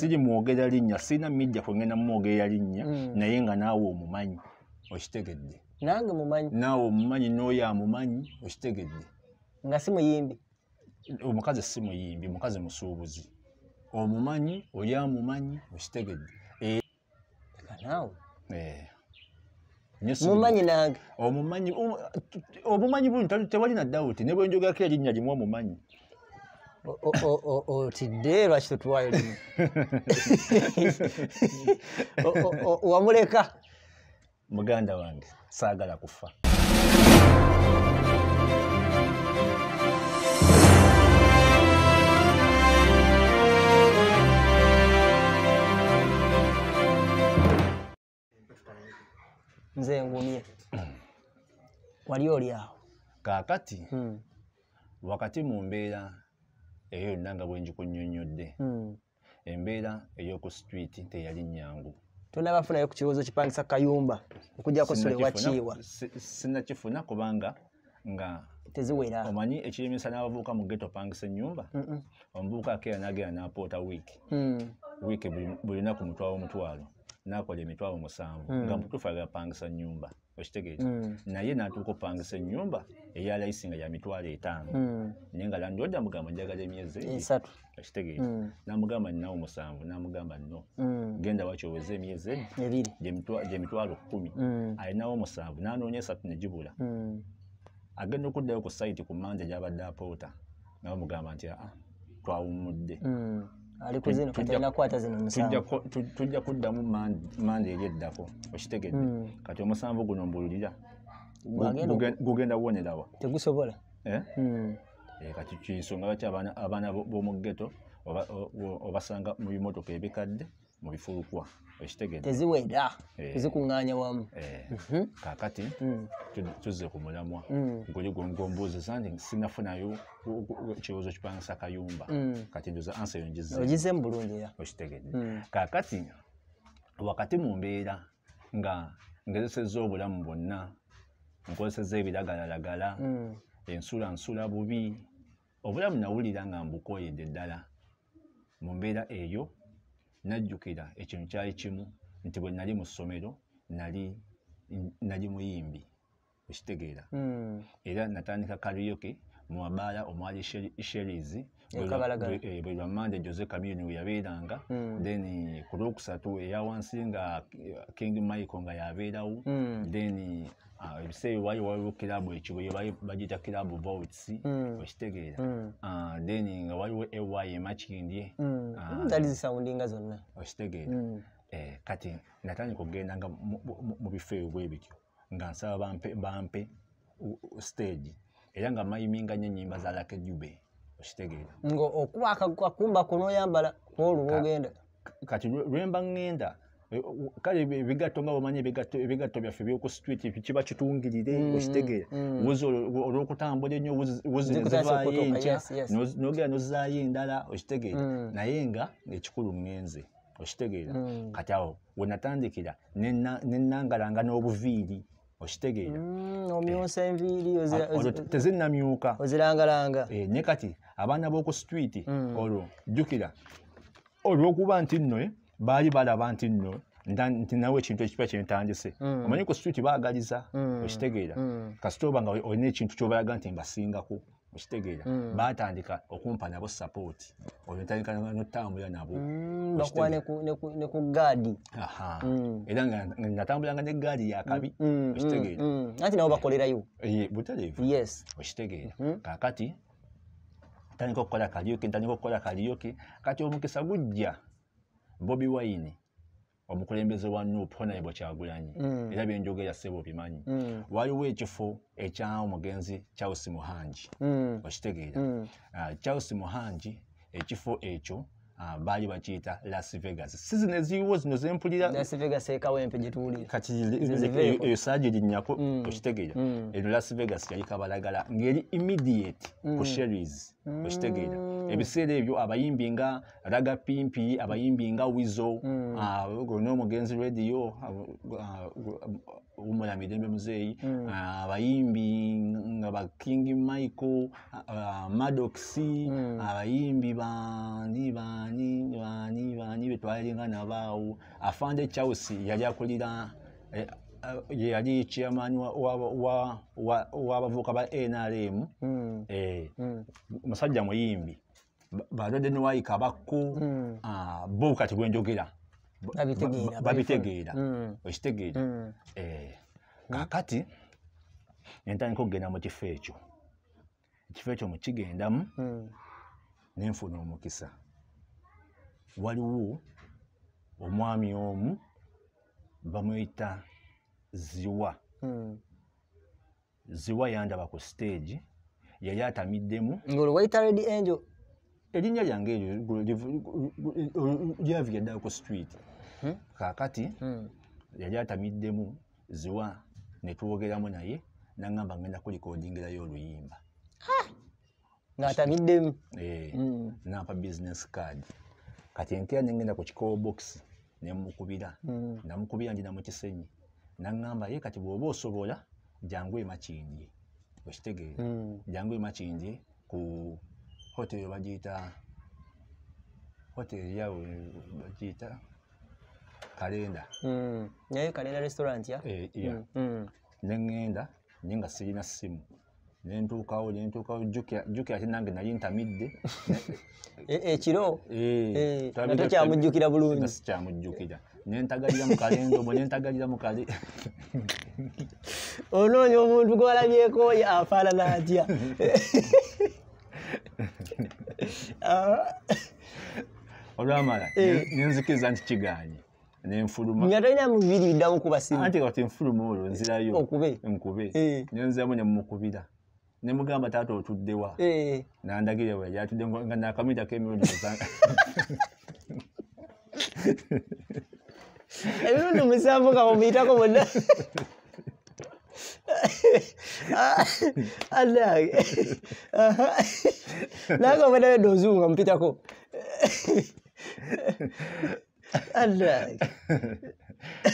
siri mwogera linnya sirina media kwengenda mumwogera linnya mm. naye nga naawe omumanyi okitegedde nange mumanyi naawe omumanyi n'oyo amumanyi okitegedde nga si muyimbi omukazi si muyimbi mukazi musuubuzi omumanyi oli amumanyi okitegedde kanaawe eh. mumanyi nange omumanyi um, obumanyi buli tewali na dawuti ne bwenjogako erinnya limu omumanyi otidde lwaki totuwayo limu wamuleka muganda wange saagala kufa nze ngumye wali oli awo kaakati hmm. wakati mu mbeera eyo yonna nga bwe njikunyonnyodde hmm. embeera ey'oku sitwiti teyali nnyangu tonabafunayo ku kirowoozo kipangisa kayumba okujjako sule wakiiwa sinakifuna kubanga nga teziwera omanyi ekiremesa n'abavubuka mu geto pangisa ennyumba omuvubuka akeera n'agenda n'apoota wiiki mm. wiiki buli lunaku mutwalo omutwalo n'akola emitwalo musanvu mm. nga mutuufu agapangisa nnyumba okitegeera mm. naye natuuka opangisa enyumba eya layisi nga ya mitwalo etaano mm. naye nga landlord amugamba njagala emyezi esatu okitegeera mm. namugamba ninawo musanvu namugamba no genda waki oweze emyezi ebiri gyemitwalo kumi alinawo musanvu nanoonya esatu negibula agenda okuddayo ku sayiti ku manja gyabadde apoota nga bamugamba nti aa twawummudde mm. tujja kuddamu manda eri eddako okitegedde mm. kati omusanvu guno mbululira gugenda wonerawa tegusobola eh? mm. eh, kati kinsonga lwaki abaana b'omu geto obasanga mu bimotoka ebikadde mu bifulukwa okitegedde teziwera eh. zikuŋŋaanya wamu eh. mhm. kakati mm. tuzze ku mulamwa mm. guli gwongombuuzi zange sinafunayo kibuuzo kipangisa kayumba mm. kati ndoza ansa yo ngizemu bulungi era okitegedde kakati wakati mu mbeera nga ngezesezza obulamu bwonna nkozesezza ebiragalalagala ensula nsula bubi obulamu nawulira nga mbukooyedde ddala mu mbeera eyo najjukira ekintu kyali kimu nti bwe nali mu ssomero nali nali muyimbi okitegeera hmm. era natandika kariyoke mu mabaala omwali sheries eh, bwe lwamande jose kamini we yabeeranga hmm. then ku lwokusatu eya wansi nga king michael nga yabeerawo hmm. then Ah, ebiseera ewayo waliwo kirabu ekigo bagiyita kirabu votes hmm. okitegeera hmm. ah, then nga waliwo ey emakindye hmm. ah, zali zisawundinga zonna okitegeera eh, kati natandika okugenda nga mu bifo ebyo bwe bityo nga nsaba bampe bampe stage era nga mayiminga nyo enyimba za lakejube okitegeera nga okuba akakumba kunoyambala kwolwo ogenda kati lwemba ŋŋenda eh, kale ebigatto nga bwemanyi ebigatto byaffe byoku street kiba kitungirire mm, okitegeera mm. wuzi olwokutambula ennyo wuzi nezivaayo enkya nogera nozaayo endala okitegeera mm. naye nga ekikulu ŋŋenze okitegeera kati awo wenatandikira nenangalanga n'obuviiri okitegeera mm, omyusa enviiri tezinamyuka ozirangalanga eh, ne kati abaana b'oku sitwiti mm. olwo jjukira olwokuba nti nno eh, baali balaba nti nno nti nawe ekintu ekipa kyentandise mm. omanyi ku sitwiti baagaliza okitegeera kasita oba nga olina ekintu kyobalaga nti mbasingako okitegeera mm. batandika okumpa nabo sapooti oyo ntandika notambula nabo mm, bakuwa ne ku gaadi mm. era nga natambulanga ne gaadi yakabi okitegeera anti nabo bakolerayo eh, butalevu okitegeera mm-hmm. kakati ntandika okukola kaliyoki ntandika okukola kaliyoki kati omukisa gujja bobi wine omukulembeze wa nup honarebo kyagulanyi mm. era byenjogera sebo bimanyi mm. waliwo ekifo ekya omugenzi charles muhangi mm. okitegeera mm. uh, charles muhangi ekifo ekyo Ah, baali bakiyita las vegas sizin eziiwo zino zempulira las vegas ekawempe gyetuli kati eyo saagi linyako mm. okitegeera mm. eno las vegas yali kabalagala ngeri immediate ku mm. sheries okitegeera ebiseera ebyo abayimbi nga raga pimpi abayimbi nga wizo mm. ah, n'omugenzi radio ah, ah, wumula mirembe muzeeyi mm. abayimbi nga ba king michael madoxi mm. abayimbi bani bani bani bani betwalinga nabaawo afande charles yali akulira eh, eh, yali chairman w'abavuuka ba nrm eh, musajja muyimbi balwadde newayika bakko hmm. ah, bo kati bwenjogera babitegeera hmm. okitegeera hmm. eh, kakati nentandika okugenda mu kifo ekyo ekifo ekyo mukigendamu nenfuna omukisa waliwo omwami omu bamuyita ziwa ziwa yandaba ku stage yali atamiddemu ngolo wayita red angel erinnya lyange eryo lyavira ddala ku street hmm? kakati hmm. yali atamiddemu ziwa netwogeramu naye nangamba ngenda kulikodingirayo oluyimba ng'atabiddemu eh, mm. nampa business card kati enkera nengenda ku kikowo bokisi nemukubira mm. namukubira ndi namukisenyi naŋŋamba ye kati bw'oba osobola jangu emakindye okitegeera mm. jangu emakindye ku hoteri bagiyita hoteri yawe bagiyita kalenda naye kalenda restaurant ya eh, neŋŋenda naye nga sirina ssimu nentuukawo nentuukawo jjukira ate nange nali ntamidde e, ekiro e, e, tokyamujjukira bulungi sikyamujjukira nentagalira mukalenzi omwe nentagalira mukale onoonya omuntu gwalabyekoyo afaanana atya olwamala nenzikiriza nti kiganye nenfuluma nga talina mubiri biddamu kuba simu anti kati nfuluma olwo nzirayo okube nkube eh. nenziramu ne mumukubira ne mugamba taata otuddewa eh. nandagire we yatudde nga nakamita kemirundi muzanga emirundi musanvu nga mumuyitako bonna anange nange obadawedde ozungu nga mupitako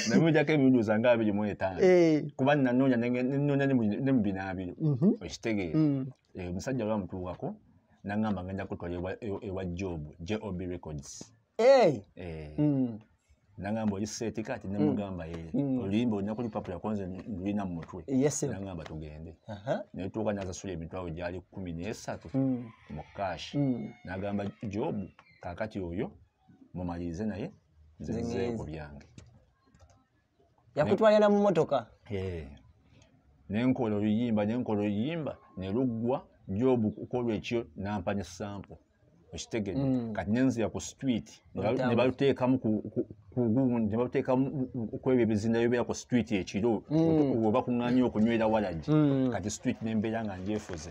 namujako emirundi osanga abiri mu etaano eh. kuba nanoonya nenoonya ne mu binaabiro mhm. okitegeera mm. eh, omusajja olwa mutuukako nangamba ngenda kutwala ewa job job records eh. mm. nangamba oli seeti kati mm. nemugamba ye oluyimba olina kulipapula konze lulina mu mutwe nangamba tugende naye tuuka nazasula emitwalo gyali kumi n'esatu mu kashi nagamba job kakati oyo mumalirize naye nze Nze nzeeyo ngenze. ku byange yakutwalira mu motoka Eh, ne nkola oluyimba ne nkola oluyimba ne luggwa jobu kukolwa ekyo nampa ne sampo okitegede Mm. kati nenzira ku street ne balu- Olutambula. ne baluteekamu ku- ku- ku gundi ne baluteekamu kwebyo ebizinda bibeera ku street ekiro Mm. oba kuŋŋanya okunywera walagi Mm. kati street nembeera nga njefuze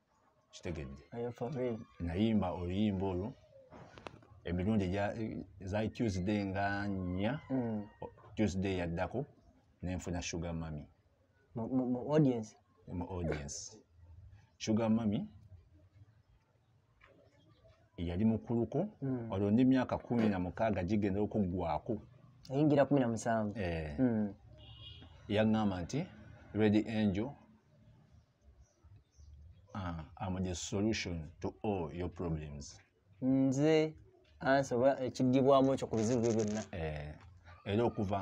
kitegedde nayimba oluyimba olwo emirundi eza tuesday nga nnya mm. tuesday yaddako nenfuna sugar mami mu audience mu audience sugar mami yali mukuluko mm. olwo ndi myaka kumi na mukaaga gigenda okuggwako ayingira kumi na musanvu eh. mm. yaŋŋamba nti redi angel uh, am the solution to all your problems nze ansa oba ekigibwamu ekyo ku bizibu byo byonna eh, era okuva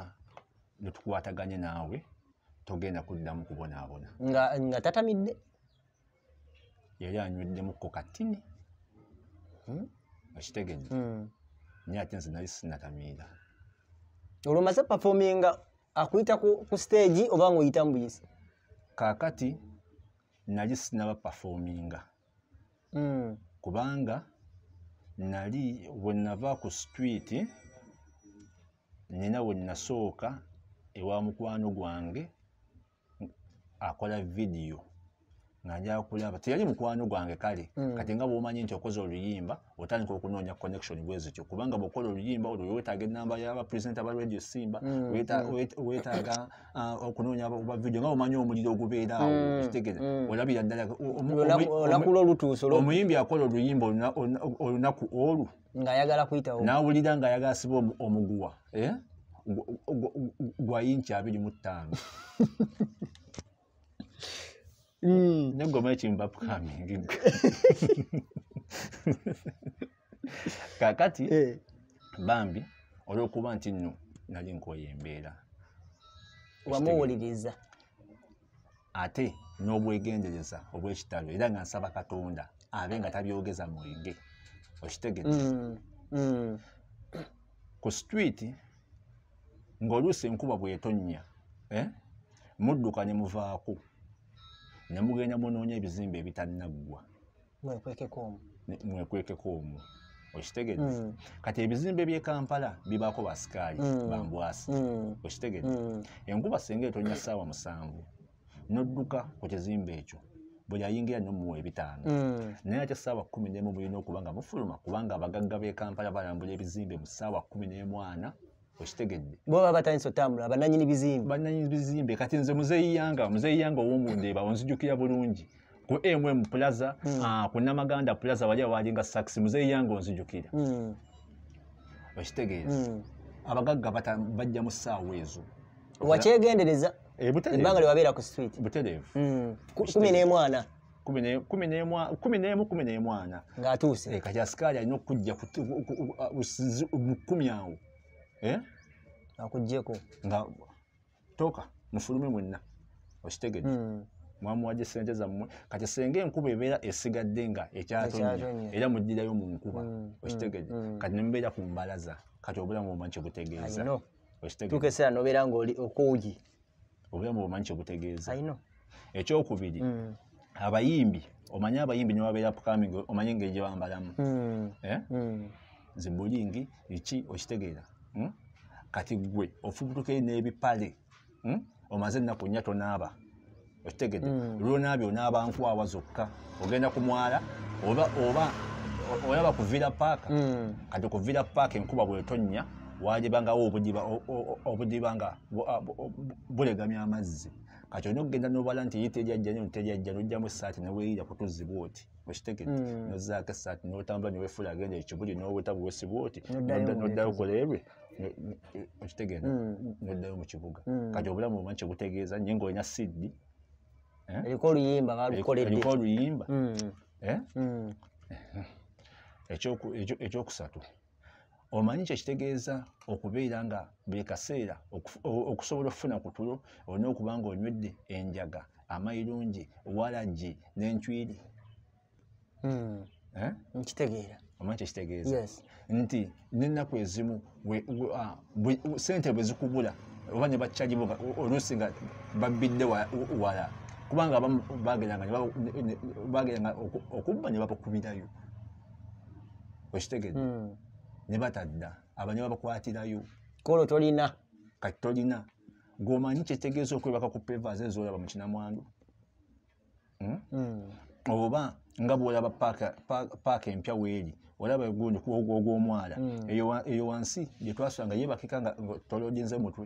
netukwataganye naawe togenda kuddamu kubonaabona nga tatamidde yali anyweddemu ko katini hmm? okitegedde hmm. naye ate nze nali sinatamiira olwomaze pafominga akuyita ku siteegi oba ngaoyitamu buyisi kaakati nali sinaba pafominga mm. kubanga nali wenava ku sitwiti nina wenasooka ewa mukwano gwange akola vidiyo nga njakulaba teyali mukwano gwange kale mm. kati nga bwomanyi nti okoze oluyimba otandika okunoonya connection bwezityo kubanga bwokola oluyimba olwo wetaaga enamba yaba presenta ba radio simba mm, mm. wetaaga uh, okunoonya oba video nga omanya omuliro ogubeeraawo mm, kitegere olabira ddala olakula olutuuso omuyimbi akola oluyimba olunaku olwo ngaayagala kuyitawo nawulira ngaayagala siba omuguwa eh? gwa yinki abiri mu ttaano Mm. ne goma ekimu bapukami kakati Eh, bambi olwokuba nti nno nali nkoye embeera wamuwuliriza ate n'obwegendereza obw'ekitalo era nga nsaba katonda abe nga tabyogeza mwenge okitegedde Mm, mm, ku street ng'oluusi enkuba bw'etonnya eh, mudduka ne muvaako ne mugenda munoonya ebizimbe ebitannaggwa mwekwekeko omu mwekwekeko omu okitegedde mm. kati ebizimbe by'e kampala bibaako basikaali mm. bambwasi mm. okitegedde mm. enkuba singa etonya ssaawa musanvu n'odduka ku kizimbe ekyo buli ayingira nomuwa ebitaano mm. naye ate saawa kumi nemu mulina okuba nga mufuluma kubanga abagagga b'e kampala balambula ebizimbe mu saawa kumi n'emwana okitegedde bo baba batandise otambula bananyini bizimbe bananyini bizimbe kati nze muzeeyi yanga muzeeyi yanga ow'omundeeba onzijukira bulungi ku mm plaza mm. uh, ku namaganda plaza wali awalinga saxi muzeeyi yange onzijukira mm. okitegeeza mm. abagagga bajja mu ssaawa ezo wakyegendereza ebbanga eh, lyewabeera ku street butereevu mm. kumi n'emwana kumi n'emu kumi n'emwana ng'atuuse eh, kati asikaali alina okujja mu kumi awo eh? akugjeko nga toka mufulume mwenna okitegedde hmm. mwamuwaje sente zammwe kati senga enkuba ebeera esigadde nga ekyatonye era mujjirayo mu nkuba hmm. Hmm. okitegedde kati nemubeera ku mbalaza kati obulamu omanyi kyebutegeeza okitegedde tukeseera nobeera nga oli okuugi obulamu omanyi kyebutegeeza ekyokubiri mm. abayimbi omanyi abayimbi newabeera upcoming omanyi engeri gyebambalamu mm. eh? mm. zibulingi iki okitegeera hmm? kati gwe ofubutukeyo n'ebipale hmm? omaze ennaku nnya tonaaba okitegedde hmm. lwonaabye onaaba nkwawa zokka ogenda ku mwala oba oba olaba kuvira paaka kati kuvira paaka enkuba bwetonnya wajebangawo obudiba nga bulegamya amazzi kati olina okugenda nobala nti yitejajja nyo ntejajja nojjamu esaati neweyira kutuzi bwoti okitegedde mm. nozaako esaati notambula newefula agenda ekibuli noweta bwosi bwoti noddayo okolerwe okitegedde mm. noddayo mu kibuga mm. kati obulamu omanyi kyebutegeeza nye nga olina siddi eh? eriko oluyimba balukoleddeko oluyimba eh? ekyokusatu omanyi kyekitegeeza okubeera nga buli kaseera okusobola okufuna ku tulo olina okuba nga onywedde enjaga amayirungi walagi n'encwiri hmm. eh? nkitegeera omanyi kyekitegeeza nti nenaku ezimu ah, sente bwe zikubula oba ne bakyajibo oluusi nga babbidde wala kubanga abamu bageranga okubba ne babakubirayo okitegedde hmm. ne batadda abanya babakwatirayo kolo tolina kati tolina gwomanyi kyetegeeza okwebaka ku pevas ezoolaba mu kinamwandu hmm? hmm. oba nga bwolaba paaka empya weeri olaba egundi kuogwomwala eyo wansi gyetwasula nga yebakika nga tolodinze mutwe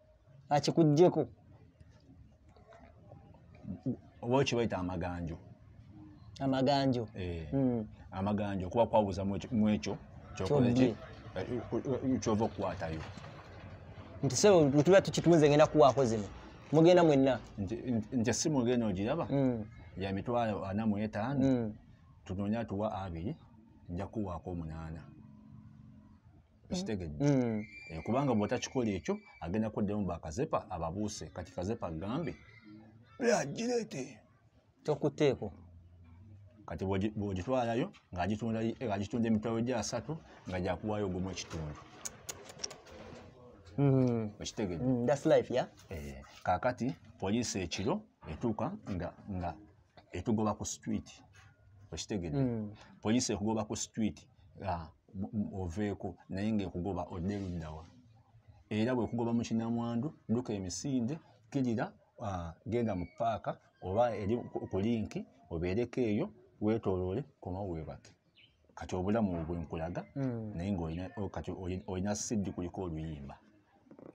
akikugyeko oba okibaita amaganjo amaganjo eh. hmm. amaganjo okuba kwabuza mwekyo eh, kyova okukwatayo nti sebo lutuba tukituunze ngenda kuwaako zino mugenda mwenna nti esimu ogenda ogiraba hmm. ya mitwalo ana mu etaano hmm. tunoonya tuwa abiri nja kuwaako omunaana ekitegedde mm. mm. eh, kubanga bwetakikola ekyo agenda kuddemu bakazepa ababuuse kati kazepa gambe agireete tokuteeko kati bwogitwalayo ngaagitunda emitwalo gya asatu nga gyakuwaayo ogumu ekitundu Mm-hmm. okitegedde mm, eh, kakati poliisi ekiro etuuka nga etugoba ku street okitegedde mm. poliisi ekugoba ku street ah, oveeko naye ngaekugoba odde luddawa era bwekugoba mu kinamwandu duka emisinde kirira ah, genda mu paaka oba eri ku linki obeereko eyo wetoloole koma webake kati obulamu bwenkulaga mm. naye ngakati olina siddi kuliko oluyimba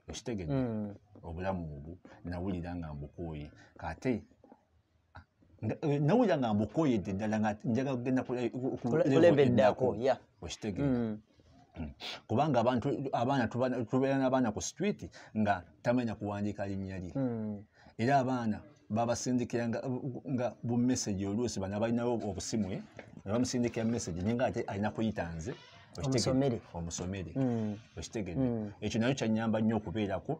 okitegedde mm. obulamu obwo nawulira nga mbukooye kate eh, nawulira nga mbukoyedde ddala nga njagala kugenda kulebeddako okitegeera mm. mm. kubanga abantu abaana tubeera n'abaana ku street nga tamanya kuwandiika linnya lye mm. era abaana babasindikira nga bumesagi oluusi bana balinawo obusimu eh? ne bamusindikira mesagi naye nga ate alina kuyita nze omusomere omusomere mm. okitegede mm. ekyo nayo kyanyamba nnyo okubeerako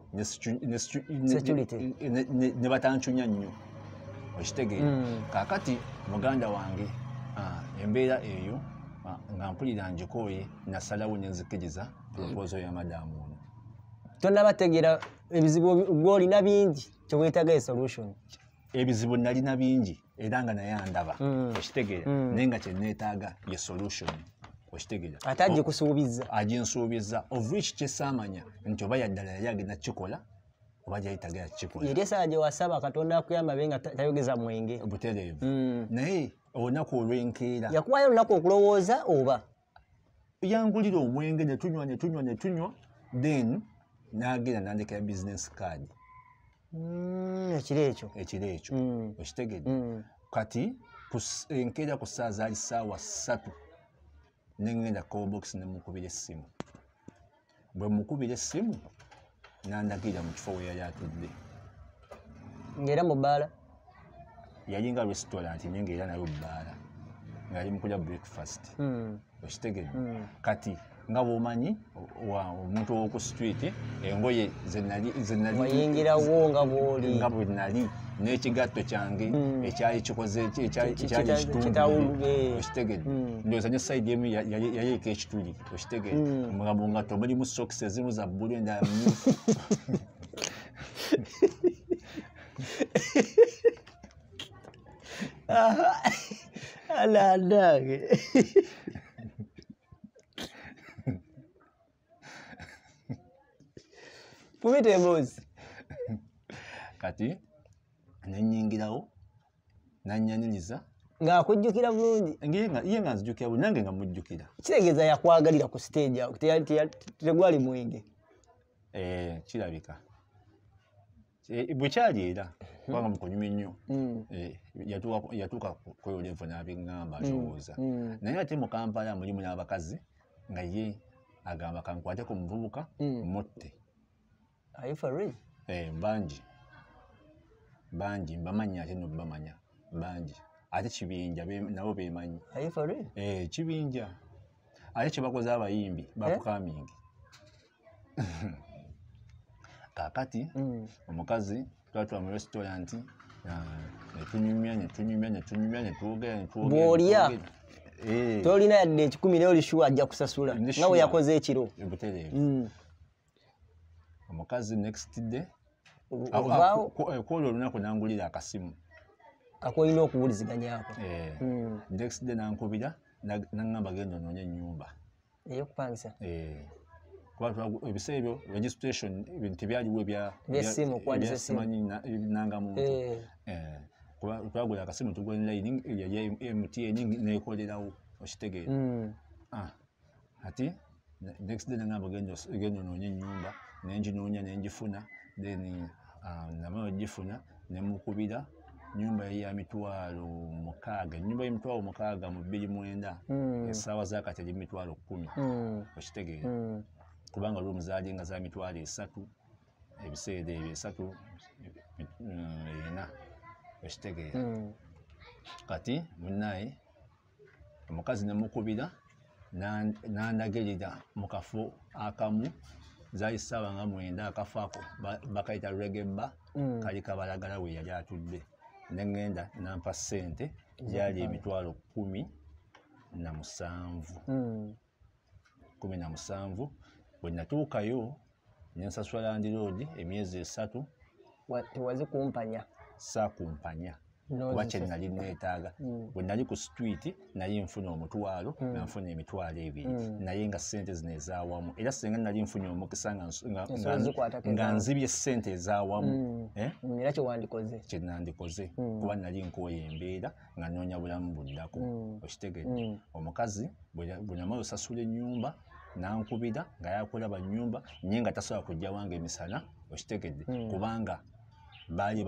ne batancunya nnyo okitegede mm. kakati muganda wange ah, embeera eyo ah, nga mpulira njikooye nasalawo nenzikiriza proposal ya madamu ono tonabategeera ebizibu gwolina bingi kyewetaga esolution ebizibu nalina bingi era nga naye andaba mm. okitegeera mm. naye nga kyeneetaaga ye solution okitegeera ate agikusuubiza aginsuubiza of which kyesaamanya nti oba yaddala yali agenda kukikola oba gyayitagera kukikola yeri esaa gye wasaba katonda akuyamba be nga tayogeza mwenge butereevu mm. naye olunaku olwenkeera yakuwayo olunaku okulowooza oba yangulira omwenge ne tunywa ne tunywa ne tunywa then n'agenda nandekera business card mm, ekiro ekyo ekiro ekyo mm. okitegedde mm. kati enkeera ku ssaawa zaali ssaawa ssatu ne ŋŋenda cobokisi ne mukubira essimu bwe mukubira essimu n'andagirira mu kifo we yali atudde ng'era mu bbaala yalinga restaurant naye ng'era nayo bbaala ng'ali mu kulya breakfast hmm. okitegedde hmm. kati nga bwomanyi omuntu owoku street engoye zenaliyingirawo nga bwoli nga bwe nali n'ekigatto kyange hmm. ekyali kikoze ekyali kitundu okitegedde ndowooza ne sayidi emu yayeka ekituli okitegere hmm. omugambo nga to mulimu socks ezimu za bbulu endala mumyufu alanange kumita emboozi kati nenyingirawo nanyanyinyiza ng'akujjukira bulungi ye nga nzijukira bulungi nange nga mujjukira kitegeeza yakwagalira ku siteegi awo tegwali mwenge eh, kirabika eh, bwekyali era hmm. kubanga mukunyuma ennyo hmm. eh, yatuuka kweyolevu n'abiŋŋamba hmm. alowooza naye ate mu kampala mulimu n'abakazi nga ye agamba kankwate ku muvubuka mutte are you for real eh banji banji mbamanya ate no bamanya banji ate kibinja nabo bemanyi are you for real eh kibinja ate kyebakoze abayimbi eh? bakukamingi kakati mm. omukazi twatula mu restaurant netunyumya netunyumya netunyumya netwogera netwogerbwolya eh. tolina yadde ekikumi naye olishuwa ajja kusasula nga weyakoze ekiro butereevu mm. omukazi next day kwolwo olunaku nangulira akasimu kakolina okuwuliziganyako eh, hmm. next day nankubira nangamba genda ononya enyumba eyokupangisa eh, ebiseera ebyo registration ebintu tebyaliwo ebyasimukwanananga muntu eh. twagula akasimu tugwa enline eya mtn nekolerawo okitegeera hmm. ah. ati next day nangamba genda onoonye ennyumba nenginoonya nengifuna then um, namala ogifuna nemukubira nyumba ya mitwalo mukaaga nyumba ya mitwalo mukaaga mu bbiri mwenda hmm. esaawa zakati eri mitwalo kumi hmm. okitegeera hmm. kubanga olwo omuzaali nga za mitwalo esatu ebiseera ebyo esatu ena okitegeera kati munaye omukazi ne mukubira n'andagerera mu kafo akamu zali ssaawa nga mwenda akafo ako bakayita regebba mm. kali kabalagala we yali atudde ne ŋŋenda nampa ssente gyali emitwalo kkumi na musanvu mm. kumi na musanvu bwe natuukayo ne nsasula landiroogi emyezi esatu tewazi kumpanya saakumpanya kuba kye nali neetaaga mm. bwe nali ku situiti naye nfuna omutwalo mm. nga nfuna emitwalo ebiri mm. naye nga ssente zino ezaawamu era singa nali nfunye omukisa nga nzibye ssente ezaawamu eh? era kyewandikoze kye nandikoze kuba nali nkooya embeera nga noonya bulamu buddako mm. okitegedde mm. omukazi bwenyamala osasula ennyumba nankubira nga yakulaba nyumba nye nga tasobola kujja wange emisana okitegedde mm. kubanga baali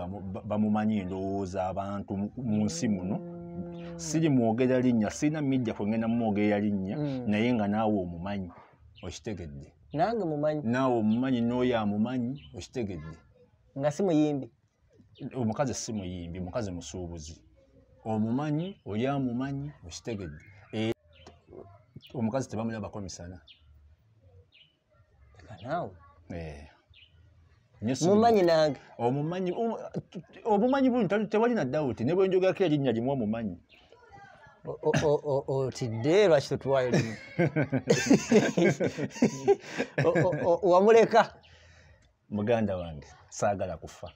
bamumanyi endowooza abantu mu nsi muno siri mwogera linnya sirina mijja kwengenda mumwogera linnya naye nga naawe omumanyi okitegedde nange mumanyi naawe omumanyi nooyo amumanyi okitegedde nga si muyimbi omukazi si muyimbi mukazi musuubuzi omumanyi oli amumanyi okitegedde e, omukazi tebamulabako misana eh. mumanyi nange omumanyi obumanyi buli tewali na dawuti ne bwenjogako erinnya limu omumanyi otidde lwaki totuwayo limu wamuleka muganda wange saagala kufa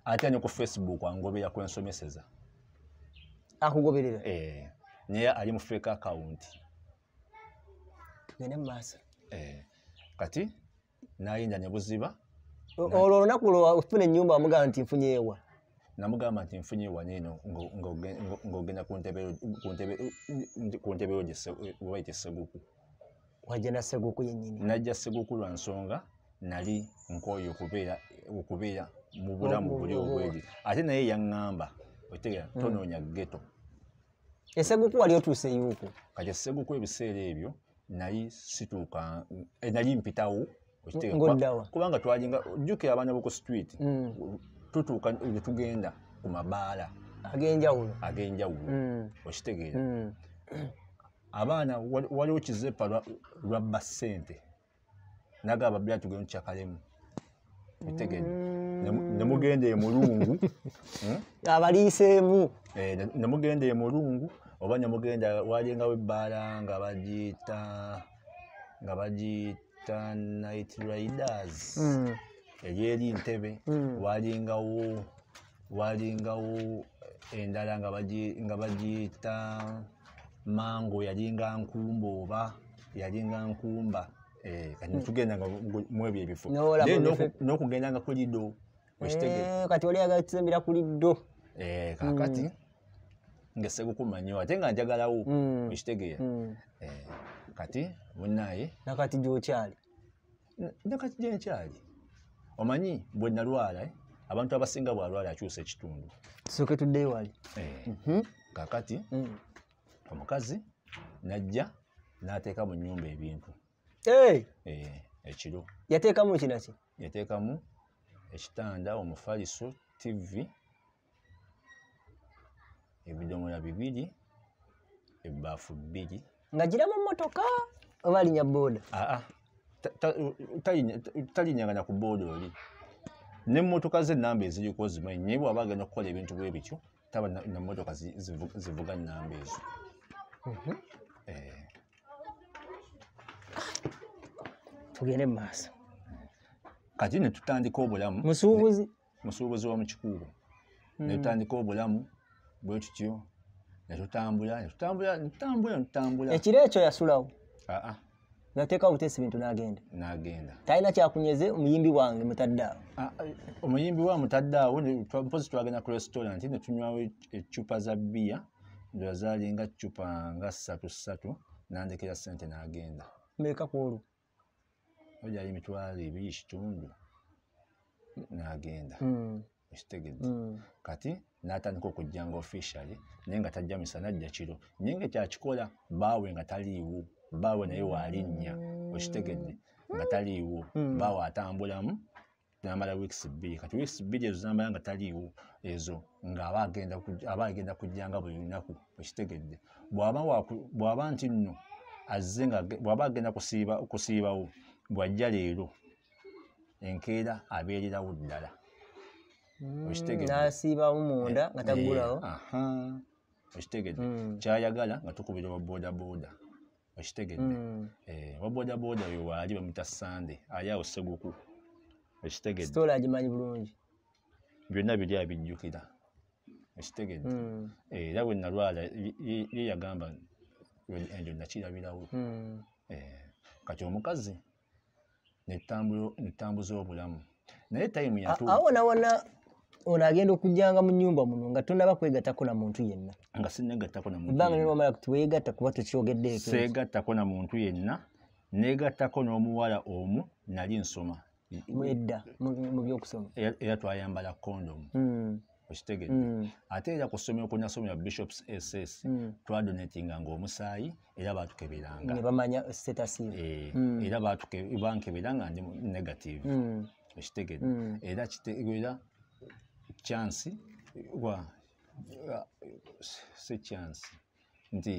ate anyo ku facebook angobera kwensomeseza akugoberera eh, naye ali mu fake account tugende mumaaso eh, kati nayinja ne buziba olwo olunaku lwofuna enyumba wamugamba nti nfunyeewa namugamba nti nfunye waneno ng'ogenda ku ntebe yo gye waite seguku wajja na seguku yenyini najja seguku lwa nsonga nali nkoye okubeera okubeera mu bulamu buli obwedi ate naye yaŋŋamba otegera hmm. tonoonya geto eseguku wali otuuse yuuku kati eseguku ebiseera ebyo nali situuka eh, nali mpitawo kubanga twalinga jjukira abaana boku street hmm. tutuuka netugenda ku mabaala agenjawulo agenjawulo hmm. okitegeera abaana waliwo kizepa lwabba ssente naga ababbi atugenda kyakalemu otegede nemugenda emulungu hmm? abaliiseemu eh, nemugenda emulungu oba nemugenda walingawo ebbaala nga bagiyita nga bagiyita night riders hmm. eri eri ntebe hmm. walingawo walingawo endala nga bagiyita mango yalinga nkumba oba yalinga nkumba eh, kati hmm. tugenda nga mwebyo ebifo n'okugenda nga kulido eh, kati oli yagala tusembera kulido eh, kakati hmm. ngesegukuma nyo ate nga njagalawo hmm. okitegeera kati munaye nakati gyokyali nakati gyenkyali omanyi bwe nalwala eh? abantu abasinga bwalwala akyusa ekitundu soke tudde wali eh, mhm. kakati mm. omukazi najja nateeka mu nyumba ebintu eh. ekiro yateekamu kinaki yateekamu ekitanda omufaliso tivi ebidomola bibiri ebbaafu bbiri nga gira mu mmotoka oba alinya booda aa talinyagana ku booda oli nemmotoka ze enamba eziriko zimanyi naye bwaba agenda okukola ebintu bwe bityo taba nemmotoka zivuga namba ezo mhm. eh. tugende mu maaso kati netutandika obulamu musuubuzi musuubuzi wa mukikuubo hmm. netutandika obulamu bwe tutyo netutambula netutambula netutambula netutambula ekiro ekyo yasulawo aa nateeka buteesi bintu nagenda nagenda talina kyakunyeze omuyimbi wange mutadde awo omuyimbi wa mutadde awo mpozi twagenda ku restaurant netunywawo eccupa za bbiya ndola zalinga ccupa nga ssatu ssatu nandekera sente nagenda meka kwolwo ojayo emitwalo ebiri ekitundu n'agenda hmm. ekitegedde hmm. kati n'atandika okujja nga officially naye nga tajja misana ajja kiro naye nga kyakikola baawe nga taliiwo baawe naye waalinnya okitegedde nga taliiwo baawe atambulamu namala weeks bbiri kati weeks bbiri ezo zamala nga taliiwo ezo ngaaba agenda kujjanga buli lunaku ekitegedde bwaba nti nno azze nga bwaba agenda kusiibawo bwajja leero enkeera abeererawo ddala mm, okitegeddenasiibawo munda nga eh, tagulawo okitegedde mm. kyayagala nga tukubira wa boda boda okitegedde mm. eh, wabodaboda oyo waali bamuta sande ali awo seguku okitegedde agimanyi bulungi byonna biri abijjukira okitegedde mm. eh, era bwe nalwala ye yagamba enjo nakirabirawo mm. eh, kati omukazi netambuza obulamu naye time yatu awo na wana ono agenda okujjanga mu nyumba muno nga tonaba kwegatako na muntu yenna nga sinegatako na muntu banga nyo mala kutwegata kuba tukyogedde ekyo segatako na muntu yenna negatako n'omuwala omu nali nsoma mwedda mu byokusoma era twayambala kondomu hmm. okitegedde mm. ate era ku ssomero kwe nasomera bishops ss mm. twadonatinga nga omusaayi era batukeberanga nebamanya status eh, mm. era bankebera nga ndi negative mm. okitegedde mm. era kitegeera chansi wa si chansi nti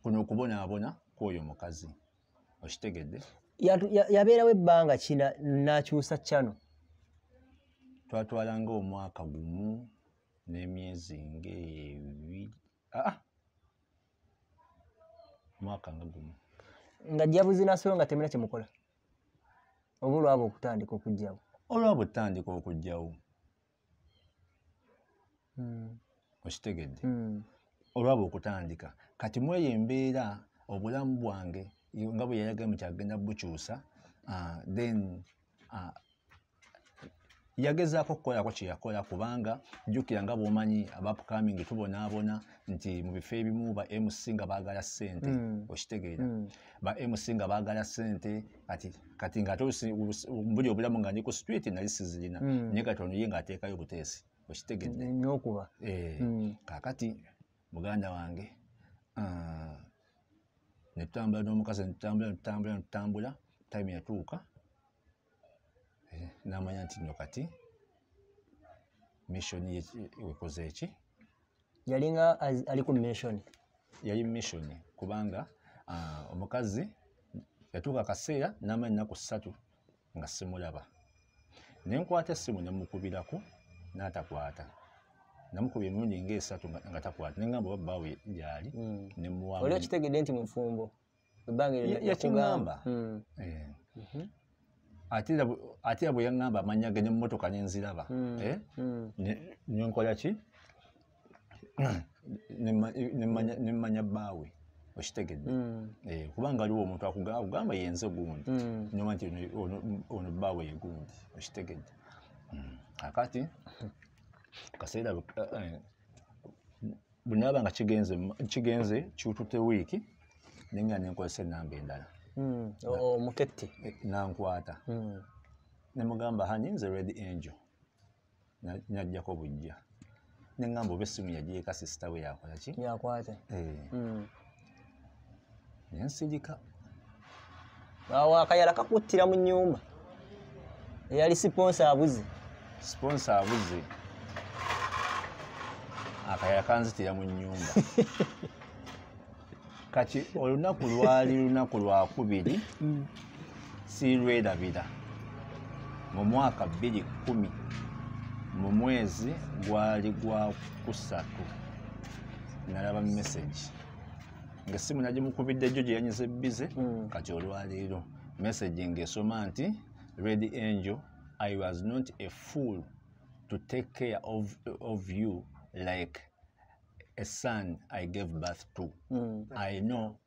kuno okubonaabona kwoyo mukazi okitegedde yabeerawo ebbanga kina nakyusa kyano twatwalanga omwaka gumu n'emyezi ngaebiri aa ah! omwaka nga gumu nga jabuzi nasoyo nga temina kyemukola oba olwaba okutandika okugjawo olwaba otandika okugjawo hmm. okitegedde hmm. olwaba okutandika kati mweyo embeera obulamu bwange nga bwe yayagae mu kyagenda bukyusa ah, then ah, yagezaako okukolako kyeyakola kubanga jjukira nga bwomanyi abapcoming tubonaabona nti mu bifo ebimu ba mc nga baagala ssente hmm. okitegeera hmm. ba mc nga baagala ssente kati kati nga ate mbuli obulamu nga ndi ku street nali sizirina mm. naye kati ono ye ng'ateekayo obuteesi okitegedde n'okuba eh, mm. kaakati muganda wange ah, ne tutambula n'omukazi ne tutambula ne tutambula ne tutambula time yatuuka eh, n'amanya nti nno kati mission wekoze eki yalinga ali ku mission yali mission kubanga uh, omukazi yatuuka akaseera n'amala ennaku ssatu nga simulaba ne nkwata essimu ne mukubirako n'atakwata namukubye emirundi ngaesatu nga takwata naye ngamba oba bbaawe gyali hmm. nemuwaoli okitegedde nti mufumbo ebbanga eryo Ya- nakugamba. yakingamba Mm, Eh. mhm, ate era bwe- ate era bwe yaŋŋamba amannya ge ne mu mmotoka ne nziraba Mm. Eh? mm, Ne- ne nkola ki Ne mma- ne mmanya- ne mmanya bbaawe okitegedde mm, Eh, kubanga waliwo omuntu akuga- akugamba yenze gundi mm. nyuma nti ono- ono- ono bbaawe ye gundi okitegedde Mm. kakati kaseera bwe- eh, eh, bwenaba nga kigenze kigenze kyutute wiiki nenga nenkozesa enamba endala hmm, omuketti eh, nankwata hmm. nemugamba hani nze red angel najjako bujja nengamba oba essimu yagyeka sisita we yakolaki yakwata eh. hmm. nsigika awo akayala kakuttira mu nyumba eyali siponsa abuze siponsa abuze akayala kanzitira mu nyumba kati olunaku lwali lunaku lwakubiri mm. siirwerabira mu mwaka bbiri kkumi mu mwezi gwali gwa kusatu nalaba mesagi ngaessimu nagimukubidde jjo gye yanyize bize mm. kati olwaleero mesagi ngaesoma nti red angel i was not a fool to take care of, of you like a son i gave birth to mm. i know